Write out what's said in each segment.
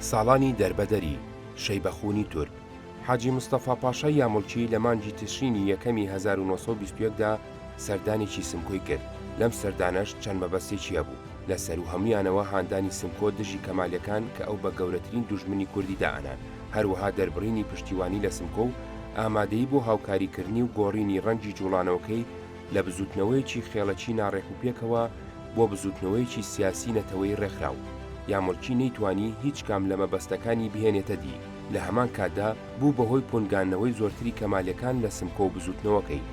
ساڵانی دەربەدەری، شەیبە خوونی تورک، حاجی مستەفا پاشای یامولکی لە مانگی تشرینی یەکەمی هەزار و نۆ سەد و بیست و یەک دا سەردانێکی سمکۆی کرد، لەم سەردانەش چەند مەبەستێکی هەبوو، لە سەروو هەموویانەوە هاندانی سمکۆ دژی کەمالیەکان کە ئەو بە گەورەترین دوژمنی کوردی دائەنان، هەروەها دەربڕینی پشتیوانی لە سمکۆ و ئامادەیی بۆ هاوکاریکردنی و گۆڕینی ڕەنگی جووڵانەوەکەی، لە بزووتنەوەیەکی خێڵەکی ناڕێکوپێکەوە بۆ بزووتنەوەیەکی سیاسی نەتەوەیی ڕێکخراو، یا ملکی نەیتوانی هیچ کام لە مەبەستەکانی بهێنێتە دی، لە هەمان کاتدا بوو بە هۆی پونگاندنەوەی زۆرتری کەمالیەکان لە سمکۆ و بزووتنەوەکەی.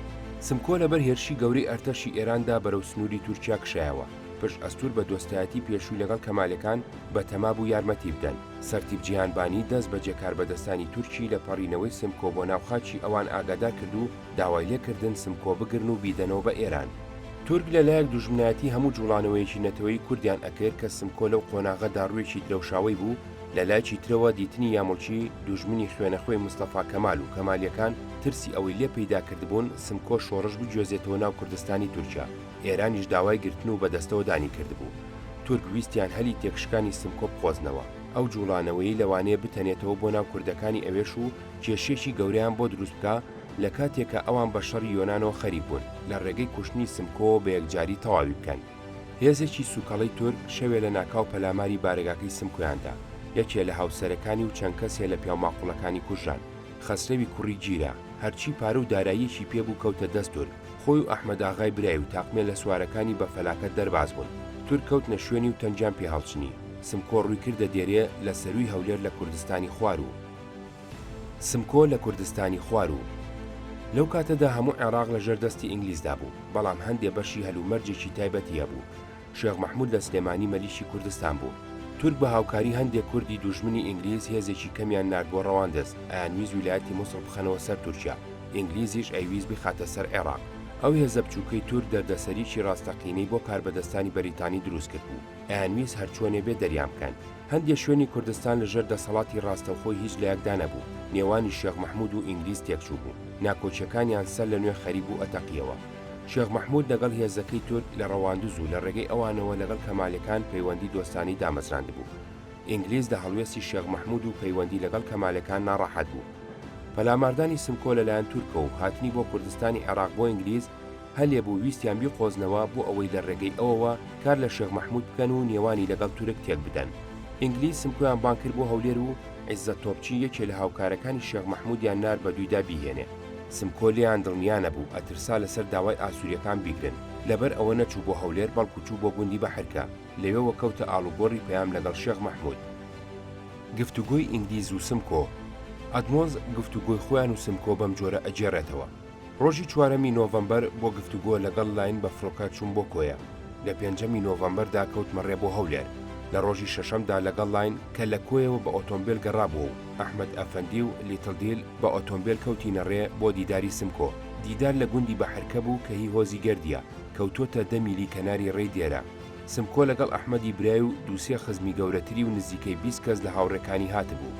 سمکۆ لەبەر هێرشی گەورەی ئەرتەشی ئێراندا بەرەو سنووری تورکیا کشایەوە، پشت ئەستوور بە دۆستایەتی پێشووی لەگەڵ کەمالیەکان بە تەما بوو یارمەتی بدەن، سەرتیپ جیهانبانی دەست بە جێکاربەدەستانی تورکی لە پەڕینەوەی سمکۆ بۆ ناو خاکی ئەوان ئاگادار کرد و، داوای لێ کردن سمکۆ بگرن و بیدەنەوە بە ئێران. تورک لە لایەک دوژمنایەتی هەموو جووڵانەوەیەکی نەتەوەیی کوردیان ئەکرد کە سمکۆ لەو قۆناغە دا ڕووێکی درەوشاوەی بوو، لە لایکی ترەوە دیتنی یامۆکی دوژمنی خوێنە خوێی مستەفا کەمال و کەمالیەکان ترسی ئەوەی لێ پەیدا کردبوون سمکۆ شۆڕش بگوێزێتەوە ناو کوردستانی تورکیا ئێرانیش داوای گرتن و بە دەستەوە دانی کردبوو تورک ویستیان هەلی تێکشکانی سمکۆ بقۆزنەوە. ئەو جووڵانەوەیەی لەوانەیە بتەنێتەوە بۆ ناو کوردەکانی ئەوێش و کێشیەکی گەورەیان بۆ دروست بکا، لە کاتێکا ئەوان بە شەڕی یۆنانەوە خەریک بوون لە ڕێگەی کوشتنی سمکۆوە بە یەکجاری تەواوی بکەن، هێزێکی سووکەڵەی تورک شەوێ لە ناکاو پەلاماری بارەگاکەی سمکۆیان دا، یەکێ لە هاوسەرەکانی و چەند کەسێ لە پیاوماقوڵەکانی کوژران، خەسرەوی کوڕی جیرە، هەرچی پارە و داراییەکی پێ بوو کەوتە دەست تورک، خۆی و ئەحمەداغای برای و تاقمێ لە سوارەکانی بە فەلاکەت دەرباز بوون، تورک کەوتنە شوێنی و تەنگیان پێ هەڵچنی، سمکۆ ڕووی کردە دێرێ لە سەرووی هەولێر لە کوردستانی خواروو. سمکۆ لە کوردستانی خواروو. لەو کاتەدا هەموو عێڕاق لە ژێر دەستی ئینگلیزدا بوو، بەڵام هەندێ بەشی هەلومەرجێکی تایبەتی هەبوو. شێخ مەحموود لە سلێمانی مەلیکی کوردستان بوو. تورک بە هاوکاری هەندێ کوردی دوژمنی ئینگلیز هێزێکی کەمیان نارد بۆ ڕەواندز، ئەیانویست ویلایەتی موسڵ بخەنەوە سەر تورکیا، ئینگلیزیش ئەیویست بیخاتە سەر عێڕاق. ئەو هێزە بچووکەی تورک دەردەسەریی ڕاستەقینەی بۆ کاربەدەستانی بەریتانی دروست کردبوو، ئەیانویست هەرچۆنێ بێ دەریان بکەن. هەندێ شوێنی کوردستان لە ژێر دەسەڵاتی ڕاستەوخۆی هیچ لایەکدا نەبوو، نێوانی شێخ مەحموود و ئینگلیز تێکچووبوو، ناکۆکییەکانیان سەر لەنوێ خەری بوو ئەتەقییەوە. شێخ مەحموود لەگەڵ هێزەکەی تورک لە ڕەواندز و لە ڕێگەی ئەوانەوە لەگەڵ کەمالیەکان پەیوەندی دۆستانەی دامەزراندبوو. ئینگلیز لە هەڵوێستی شێخ مەحموود و پەیوەندی لەگەڵ کەمالیەکان ناڕەحەت بوو. پەلاماردانی سمکۆ لەلایەن تورکەوە و هاتنی بۆ کوردستانی عێڕاق بۆ ئینگلیز، هەلێبوو ویستیان بیقۆزنەوە بۆ ئەوەی لە ڕێگەی ئەوەوە کار لە شێخ مەحموود بکەن و نێوانی لەگەڵ تورک تێک بدەن. ئینگلیز سمکۆیان بانگ کرد بۆ هەولێر و عیزەت تۆپچی یەکێ لە هاوکارەکانی شێخ مەحموودیان نارد بە دوویدا بیهێنێ. سمکۆ لێیان دڵنیا نەبوو، ئەترسا لەسەر داوای ئاسوورییەکان بیگرن. لەبەر ئەوە نەچوو بۆ هەولێر بەڵکوو چوو بۆ گوندی بەحرکە. لەوێوە کەوتە ئاڵوگۆڕی پەیام لەگەڵ شێخ مەحموود. گفتوگۆی ئینگلیز و سمکۆ. ئەدمۆنز گفتوگۆی خۆیان و سمکۆ بەمجۆرە ئەگێڕێتەوە. ڕۆژی چوارەمی نۆڤەمبەر بۆ گفتوگۆ لەگەڵ لاین بە فڕۆکە چووم بۆ کۆیە، لە پێنجەمی نۆڤەمبەردا کەوتمە ڕێ بۆ هەولێر، لە ڕۆژی شەشەمدا لەگەڵ لاین کە لە کۆیەوە بە ئۆتۆمبێل گەڕابووە و ئەحمەد ئەفەندی و لیتڵ دیل بە ئۆتۆمبێل کەوتینە ڕێ بۆ دیداری سمکۆ، دیدار لە گوندی بەحرکە بوو کە هی هۆزی گەردییە، کەوتووەتە دە میلی کەناری ڕێی دێرە. سمکۆ لەگەڵ ئەحمەدی برای و دوو سێ خزمی گەورەتری و نزیکەی بیست کەس لە هاوڕێکانی هاتبوو.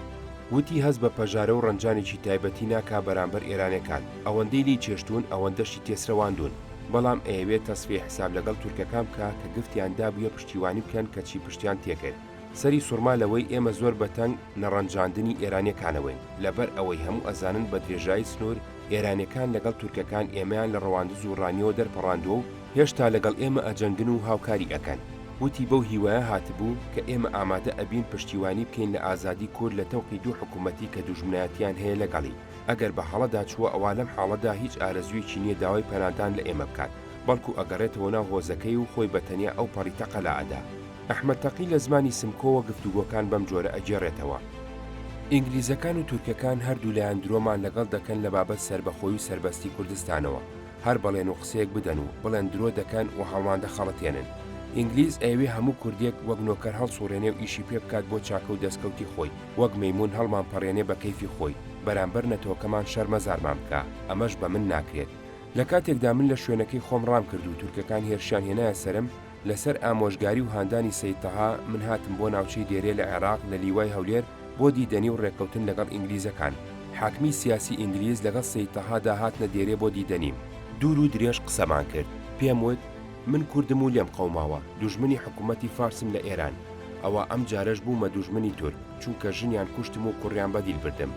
وتی هەست بە پەژارە و ڕەنجانێکی تایبەتی ناکا بەرامبەر ئێرانەکان، ئەوەندەی لێی چێشتوون ئەوەندەشی تێسرەواندوون، بەڵام ئەیەوێ تەسفیەی حساب لەگەڵ تورکەکان بکا کە گفتیان دابوویە پشتیوانی بکەن کەچی پشتیان تێکرد. سەری سوڕما لەوەی ئێمە زۆر بە تەنگ نەڕەنجاندنی ئێرانیەکانەوەین لەبەر ئەوەی هەموو ئەزانن بە درێژایی سنوور ئێرانیەکان لەگەڵ تورکەکان ئێمەیان لە ڕەواندز و ڕانیەوە دەرپەڕاندوە و هێشتا لەگەڵ ئێمە ئەجەنگن و هاوکاری ئەکەن. وتی بەو هیوایە هاتبوو کە ئێمە ئامادە ئەبین پشتیوانی بکەین لە ئازادی کورد لە تەوقی دوو حکومەتی کە دوژمنایەتیان هەیە لەگەڵی ئەگەر بە هەڵەدا چووە ئەوا لەم حاڵەدا هیچ ئارەزویەکی نیە داوای پەنادان لە ئێمە بکات بەڵکو ئەگەڕێتەوە ناو هۆزەکەی و خۆی بە تەنیا ئەو پەڕی تەقەلا ئەدا. ئەحمەد تەقی لە زمانی سمکۆوە گفتوگۆکان بەم جۆرە ئەگێڕێتەوە، ئینگلیزەکان و تورکەکان هەردوولایان درۆمان لەگەڵ دەکەن لە بابەت سەربەخۆی و سەربەستی کوردستانەوە، هەر بەڵێن و قسەیەک بدەن و بڵێن درۆ دەکەن و هەڵمان دەخەڵەتێنن، ئینگلیز ئەیەوێ هەموو کوردێک وەک نۆکەر هەڵسوڕێنێ و ئیشی پێ بکات بۆ چاکە و دەسکەوتی خۆی، وەک مەیموون هەڵمانپەڕێنێ بە کەیفی خۆی، بەرامبەر نەتەوەکەمان شەرمەزارمان بکا، ئەمەش بە من ناکرێت. لە کاتێکدا من لە شوێنەکەی خۆم ڕام کرد و تورکەکان هێرشیان هێنایە سەرم، لەسەر ئامۆژگاری و هاندانی سەید تەها من هاتم بۆ ناوچەی دێرێ لە عێراق لە لیوای هەولێر بۆ دیدەنی و ڕێککەوتن لەگەڵ ئینگلیزەکان، حاکمی سیاسی ئینگلیز لەگەڵ سەید تەهادا هاتنە دێرێ بۆ دیدەنیم، دوور و درێژ قسەمان کرد، پێم وت من کوردم و لێم قەوماوە، دوژمنی حکوومەتی فارسم لە ئێران، ئەوە ئەم جارەش بوومە دوژمنی تورک، چونکە ژنیان کوشتم و کوڕیان بە دیل بردم،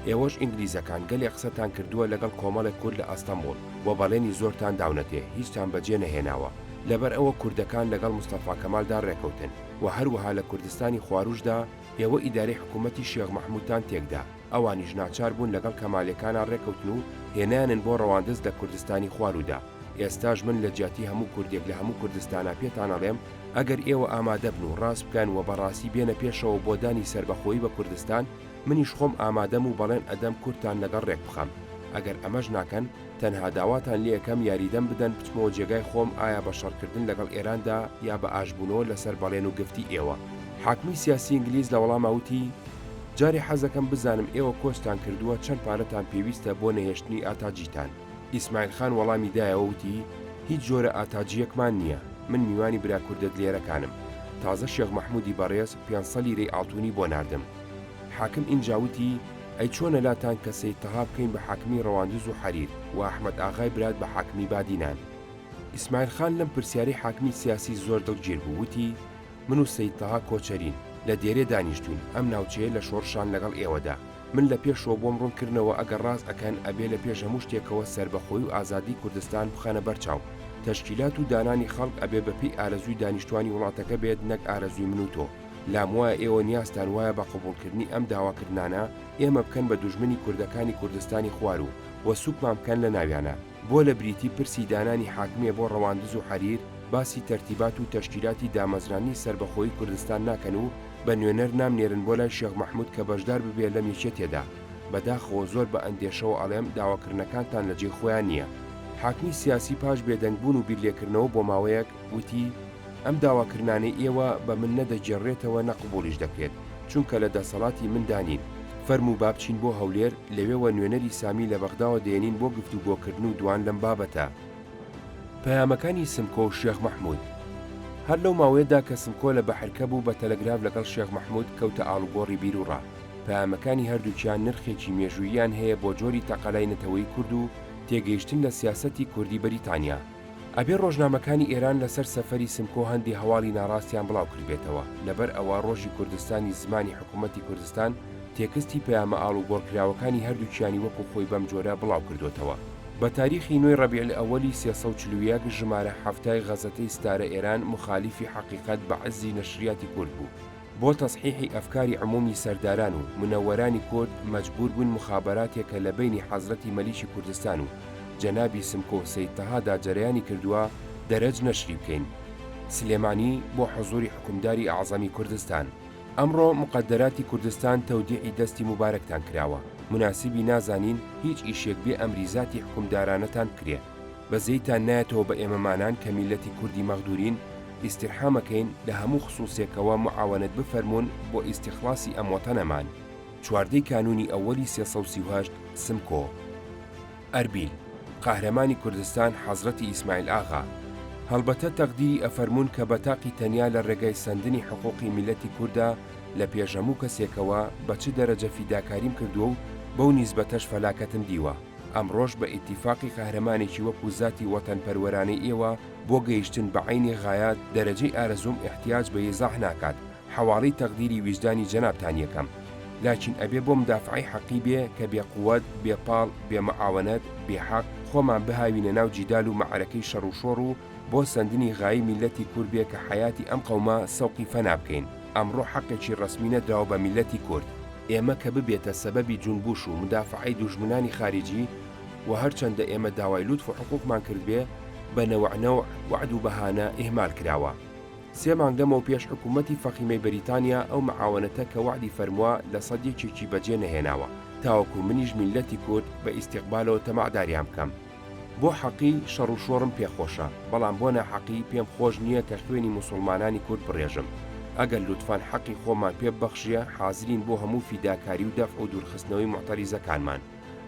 ئێوەش ئینگلیزەکان گەلێ قسەتان کردووە لەگەڵ کۆمەڵێک کورد لە ئەستەمبوڵ و بەڵێنی زۆرتان داونەتێ هیچتان بەجێ نەهێناوە، لەبەر ئەوە کوردەکان لەگەڵ مستەفا کەمالدا ڕێکەوتن و هەروەها لە کوردستانی خواروژدا ئێوە ئیدارەی حکوومەتی شێخ مەحموودتان تێکدا، ئەوانیش ناچار بوون لەگەڵ کەمالێکانا ڕێکەوتن و هێنایانن بۆ ڕەواندز لە کوردستانی خوارودا. ئێستاش من لە جیاتی هەموو کوردێک لە هەموو کوردستانا پێتان ئەڵێم ئەگەر ئێوە ئامادە بن و ڕاست بکەن و بە ڕاستی بێنە پێشەوە بۆ دانی سەربەخۆیی بە کوردستان، منیش خۆم ئامادەم و بەڵێن ئەدەم کورتتان لەگەڵ ڕێک بخەم، ئەگەر ئەمەش ناکەن تەنها داواتان لێ ئەکەم یاریدەم بدەن بچمەوە جێگای خۆم ئایا بە شەڕکردن لەگەڵ ئێراندا یا بە ئاشتبوونەوە لەسەر بەڵێن و گفتی ئێوە. حاکمی سیاسی ئینگلیز لە وەڵاما وتی، جارێ حەزەکەم بزانم ئێوە کۆچتان کردووە چەند پارەتان پێویستە بۆ نەهێشتنی ئاتاجیتان؟ ئیسماعیل خان وەڵامی دایەوە وتی، هیچ جۆرە ئاتاجییەکمان نییە، من میوانی برا کوردە دلێرەکانم، تازە شێخ مەحموودی بەڕێز، پێنسە لیرەی ئاڵتونی بۆ ناردم. حاکم ئینجا وتی، ئەی چۆنە لاتان کە سەید تەها بکەین بە حاکمی ڕەواندز و حەریر و ئەحمەد ئاغای برات بە حاکمی بادینان؟ ئیسماعیل خان لەم پرسیارەی حاکمی سیاسی زۆر دڵگیر بوو، وتی، من و سەید تەها کۆچەرین، لە دێرێ دانیشتووین، ئەم ناوچەیە لە شۆڕشان لەگەڵ ئێوەدا. من لە پێشەوە بۆم ڕوون کردنەوە ئەگەر ڕاست ئەکەن ئەبێ لە پێش هەموو شتێکەوە سەربەخۆی و ئازادی کوردستان بخەنە بەر چاو تەشکیلات و دانانی خەڵک ئەبێ بە پێی ئارەزووی دانیشتوانی وڵاتەکە بێت نەک ئارەزووی من و تۆ لام وایە ئێوە نیازتان وایە بە قبوڵکردنی ئەم داواکردنانە ئێمە بکەن بە دوژمنی کوردەکانی کوردستانی خوار و و سوکمان بکەن لە ناویانە. بۆ لە بریتی پرسی دانانی حاکمیە بۆ ڕەواندز و حەریر باسی تەرتیبات و تەشکیلاتی دامەزراندنی سەربەخۆیی کوردستان ناکەن و بە نوێنەر نامنێرن بۆ لای شێخ مەحمود کە بەشدار ببێ لەم یەکێتیەدا، بەداخەوە زۆر بە ئەندێشەوە ئەڵێم داواکردنەکانتان لە جێی خۆیان نیە. حاکمی سیاسی پاش بێدەنگ بوون و بیرلێکردنەوە بۆ ماوەیەک، وتی، ئەم داواکرنانەی ئێوە بە من نە دەگێڕرێتەوە نە قبووڵیش دەکرێت، چونکە لە دەسەڵاتی مندا نین، فەرموو با بچین بۆ هەولێر، لەوێوە نوێنەری سامی لە بەغداوە دێنین بۆ گفتوگۆکردن و دوان لەم بابەتە. پەیامەکانی سمکۆ و شێخ مەحموود. هەر لەو ماوەیەدا کە سمکۆ لە بەحرکە بوو بە تەلەگراف لەگەڵ شێخ مەحموود کەوتە ئاڵوگۆڕی بیروڕا، پەیامەکانی هەردووکیان نرخێکی مێژووییان هەیە بۆ جۆری تەقەلای نەتەوەی کورد و تێگەیشتن لە سیاسەتی کوردی بەریتانیا. ئەبێ ڕۆژنامەکانی ئێران لەسەر سەفەری سمکۆ هەندی هەواڵی ناڕاستیان بڵاو کردبێتەوە، لەبەر ئەوە ڕۆژی کوردستانی زمانی حکوومەتی کوردستان تێکستی پەیامە ئاڵوگۆڕکراوەکانی هەردووکیانی وەکوو خۆی بەم جۆرە بڵاو کردۆتەوە. بە تاریخی نۆی ڕەبیعلئەوەلی سێ سەد و چل و یەک ژمارە حەفتای غەزەتەی ستارە ئێران موخالیفی حەقیقەت بە عززی نەشریاتی کورد بوو. بۆ تەسحیحی ئەفکاری عمومی سەرداران و منەوەرانی کورد مەجبور بووین مخابەراتێک کە لە بەینی حەزرەتی مەلیکی کوردستان و جەنابی سمکۆ و سەید تەها دا جەرەیانی کردووە دەرەج نەشری بکەین سلێمانی بۆ حزوری حوکمداری ئەعزەمی کوردستان. ئەمڕۆ مقەدەراتی کوردستان تەودیعی دەستی موبارەکتان کراوە، مناسیبی نازانین هیچ ئیشێک بێ ئەمری زاتی حوکمدارانەتان بکرێ. بەزەیتان نایەتەوە بە ئێمەمانان کە میللەتی کوردی مەغدورین ئیستیرحامەکەین لە هەموو خسوسێکەوە معاونەت بفەرموون بۆ ئیستیخلاسی ئەم وەتەنەمان. چواردە کانونی ئەوەلی سێ سەد و سی و هەشت سمکۆ. ئەربیل. قاهرەمانی کوردستان حەزرەتی ئیسماعیل ئاغا. هەڵبەتە تەقدیری ئەفەرموون کە بەتاقی تەنیا لە ڕێگای سەندنی حقوقی میللەتی کوردە لە پێش هەموو کەسێکەوە بە چ دەرەجە فیداکاریم کردووە و بەو نیسبەتەش فەلاکەتم دیوە. ئەمڕۆش بە ئیتیفاقی قەهرەمانێکی وەکو زاتی وەتەنپەروەرانەی ئێوە بۆ گەیشتن بە عەینی غایات دەرەجەی ئارەزووم ئیحتیاج بە یزاح ناکات حەواڵەی تەقدیری ویژدانی جەنابتان یەکەم لاکین ئەبێ بۆ مدافەعەی حەقی بێ کە بێ قوەت بێ پاڵ بێ مەعاوەنەت بێ حەق خۆمان بهاوینە ناو جیدال و مەعەرەکەی شەڕ و شۆڕ و بۆ سەندنی غایی میللەتی کورد بێ کە حەیاتی ئەم قەومە سەوقی فەنا بکەین ئەمڕۆ حەقێکی ڕەسمی نەدراوە بە میللەتی کورد ئێمە کە ببێتە سەبەبی جونبوش و مودافەعەی دوژمنانی خاریجی و هەر چەندە ئێمە داوای لوتف و حقوقمان کردبێ بە نەوع نەوع وەعد و بەهانە ئیهمال کراوە سێ مانگ لەمەو پێش حکومەتی فەخیمەی بەریتانیا ئەو معاونەتە کە وەعدی فەرموە لە سەد یەکێکی بەجێ نەهێناوە تاوەکو منیش میللەتی کورد بە ئیستیقبالەوە تەماعداریان بکەم. بۆ حەقی شەڕ و شۆڕم پێ خۆشە، بەڵام بۆ ناحەقی پێم خۆش نییە کە خوێنی موسوڵمانانی کورد بڕێژم. ئەگەر لوتفەن حەقی خۆمان پێ ببەخشیە حازرین بۆ هەموو فیداکاری و دەفع و دوورخستنەوەی موعتەریزەکانمان.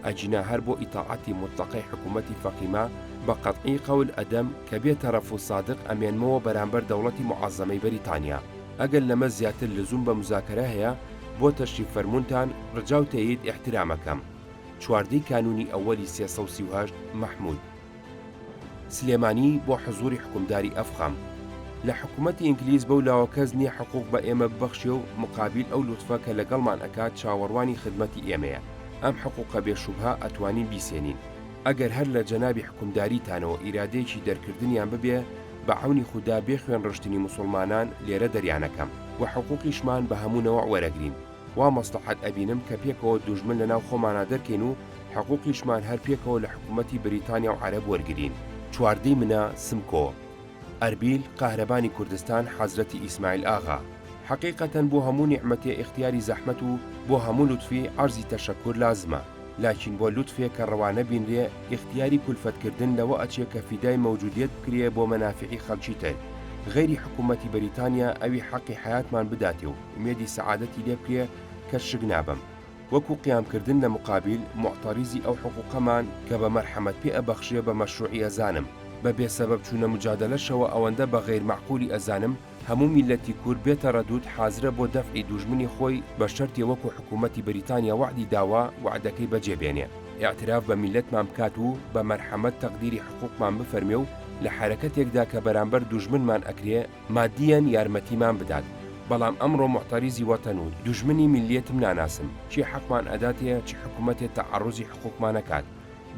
ئەگینا هەر بۆ ئیتاعەتی موتڵەقەی حکوومەتی فەقیمە بە قەتعی قەول ئەدەم کە بێ تەرەف و سادق ئەمێنمەوە بەرامبەر دەوڵەتی موعەزەمەی بەریتانیا. ئەگەر لەمە زیاتر لزووم بە موزاکەرە هەیە بۆ تەشریف فەرموونتان، ڕجاو تەیید ئیحترامەکەم. چواردەی کانوونی ئەوەلی سێ سەد و سی و هەشت مەحموود سلێمانی بۆ حزووری حوکمداری ئەفخام لە حکوومەتی ئینگلیز بەو لاوە کەس نییە حقووق بە ئێمە ببەخشێ و مقابیل ئەو لوتفە کە لەگەڵمان ئەکات چاوەڕوانی خدمەتی ئێمەیە ئەم حقووقە بێ شوبهە ئەتوانین بیسێنین ئەگەر هەر لە جەنابی حوکمداریتانەوە ئیرادەیەکی دەرکردنیان ببێ بە عەونی خودا بێ خوێن ڕشتنی موسوڵمانان لێرە دەریان ئەکەم و حقووقیشمان بە هەموو نەوەع وەرەگرین. وا مەسڵەحەت ئەبینم کە پێکەوە دوژمن لەناو خۆمانا دەرکەین و حقوقیشمان هەر پێکەوە لە حکوومەتی بریتانیا و عەرەب وەرگرین. چواردە ی منە، سمکۆ، ئەربیل، قاهرەبانی کوردستان، حەزرەتی ئیسماعیل ئاغا. حەقیقەتەن بۆ هەموو نیعمەتێ ئیختیاری زەحمەت و بۆ هەموو لوتفی عەرزی تەشەککور لازمە، لاکین بۆ لوتفێ کە ڕەوا نەبینرێ ئیختیاری کولفەت کردن لەوە ئەچێ کە فیدای مەوجودیەت بکرێ بۆ مەنافیعی خەلکی تر، غەیری حکوومەتی بریتانیا ئەوی حەقی حەیاتمان بداتێ و ئومێدی سەعادەتی لێ بکرێ کە شک نابەم. وەکوو قیام کردن لە موقابیل موعتەریزی ئەو حقووقەمان کە بە مەرحەمەت پێ ئەبەخشرێ بە مەشرووعی ئەزانم. بە بێ سەبەب چوونە موجادەلەشەوە ئەوەندە بە غەیر مەعقوولی ئەزانم هەموو میللەتی کورد بێ تەڕەدوود حازرە بۆ دەفعی دووژمنی خۆی بە شەرتێ وەکوو حکوومەتی بریتانیا وەعدی داوە وەعدەکەی بە جێ بێنێ ئیعتراف بە میللەتمان بکات و بە مەرحەمەت تەقدیری حقووقمان بفەرمێ و لە حەرەکەتێکدا کە بەرامبەر دووژمنمان ئەکرێ مادیەن یارمەتیمان بدات، بەڵام ئەمڕۆ موعتەریزی وەتەن و دوژمنی میللیەتم ناناسم، چی حەقمان ئەداتێ چ حکومەتێ تەعەڕوزی حقوقمانە کات،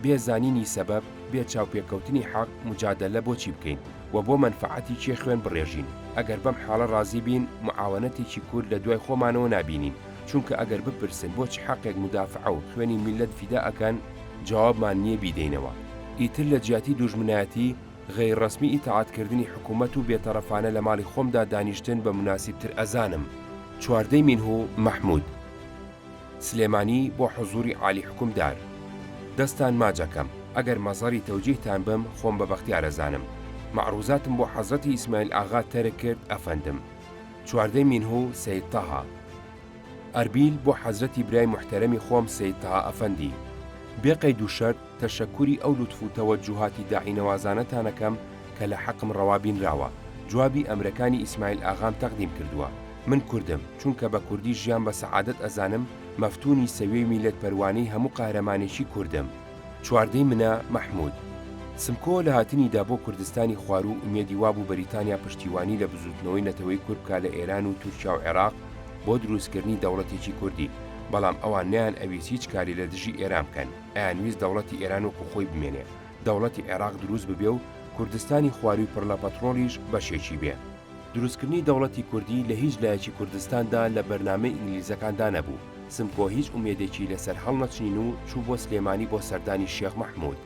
بێ زانینی سەبەب، بێ چاوپێکەوتنی حەق، موجادەلە بۆ چی بکەین و بۆ مەنفەعەتی کێ خوێن بڕێژین، ئەگەر بەم حاڵە ڕازی بین، موعاوەنەتێکی کورد لە دوای خۆمانەوە نابینین، چونکە ئەگەر بپرسن بۆ چ حەقێک مودافەعە و خوێنی میللەت فیدا ئەکەن، جوابمان نیە بیدەینەوە، ئیتر لە جیاتی دوژمنایەتی، غەیرڕەسمی ئیتاعەتکردنی حکوومەت و بێتەڕەفانە لە ماڵی خۆمدا دانیشتن بە موناسیبتر ئەزانم. چواردە مینه و مەحموود. سلێمانی بۆ حزووری عالی حوکمدار. دەستان ماچ ئەکەم. ئەگەر مەزەری تەوجیهتان بم خۆم بە بەختیار ئەزانم. مەعرووزاتم بۆ حەزرەتی ئیسماعیل ئاغا تەرک کرد ئەفەندم. چواردە مینه و سەید تەها. ئەربیل بۆ حەزرەتی برای موحتەرەمی خۆم سەید تەها ئەفەندی. بێ قەید و شەرت تەشەکوری ئەو لوتف و تەوەجوهاتی داعینەوازانەتان ئەکەم کە لە حەقم ڕەوا بینراوە، جوابی ئەمرەکانی ئیسماعیل ئاغام تەقدیم کردووە. من کوردم، چونکە بە کوردی ژیان بە سەعادەت ئەزانم، مەفتوونی سەویەی میللەت پەروانەی هەموو قەهرەمانێکی کوردم. چواردەی منە، مەحموود. سمکۆ لە هاتنی دا بۆ کوردستانی خواروو ئومێدی وابوو بەریتانیا پشتیوانی لە بزووتنەوەی نەتەوەی کورد بکا لە ئێران و تورکیا و عێراق بۆ درووستکردنی دەوڵەتێکی کوردی، بەڵام ئەوان نەیان ئەویست هیچ کاری لە دژی ئێران بکەن. ئەیانویست دەوڵەتی ئێران وەکو خۆی بمێنێ، دەوڵەتی عێراق دروست ببێ و کوردستانی خوارووی پڕ لە پەتڕۆڵیش بەشێکی بێ. دروستکردنی دەوڵەتی کوردی لە هیچ لایەکی کوردستاندا لە بەرنامەی ئینگلیزەکاندا نەبوو. سمکۆ هیچ ئومێدێکی لە سەر هەڵنەچنین و چوو بۆ سلێمانی بۆ سەردانی شێخ مەحموود.